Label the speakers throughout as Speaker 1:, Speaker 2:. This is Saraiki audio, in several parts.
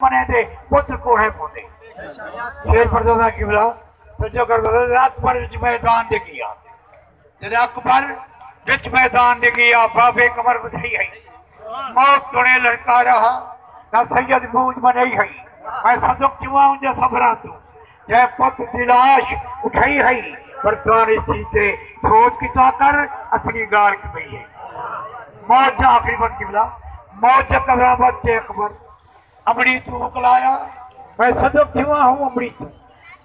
Speaker 1: بنے دے پتر کوڑھے پوندے۔ شیر پردوزہ قبلہ توجہ کر بزرگ جدے اکبر وچ میدان دے گیا جدے اکبر وچ میدان دے گیا بابے کمر بدھائی ہئی موت توڑے لڑکارا ہا نہ سید موج منائی ہئی میں صدق چواں انجا صبران توں جئے پت دی لاش اٹھائی ہئی پر دانش تھی تے سوچ کیتا کر اصلی گالھ کی پئی ہئی۔ موت دا آخری وقت قبلہ موت دا قبرہ وت تے اکبر امڑی توں وکلایا۔ میں صدف تھیواں ہوں امڑی توں۔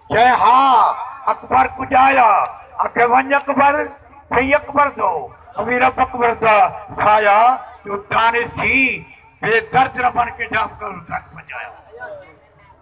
Speaker 1: جئے ہا اکبر کجایا آکھے ونج اکبر تھئی اکبر دو اوی رب اکبر دا سایا جو دانش تھی بے درد نہ بن کے جا اکبر درد پجایا۔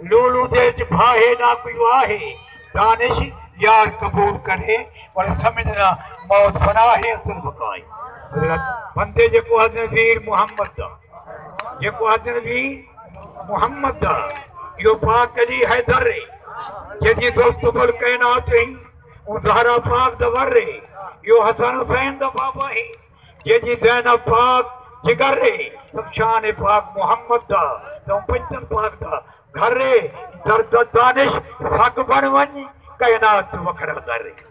Speaker 1: لولو دے اچ بھاہے نہ کوئی واہے دانش یار قبول کرے ول سمجھنا موت فنا ہے اصل بقائے حضرت بندے جے کو حضرت ویر محمد دا جے کو حضرت ویر محمد دا یو پاک علی حیدر رے جے دی دوست بل کائنات ہی اون زہرا پاک دا ور رے یو حسن حسین دا بابا ہی جے جی زینب پاک جگر ہے سمشان پاک محمد دا تاں پنجتن پاک دا گھر ہے درد دانش سگ بن ونج کائنات وکھرا در ہے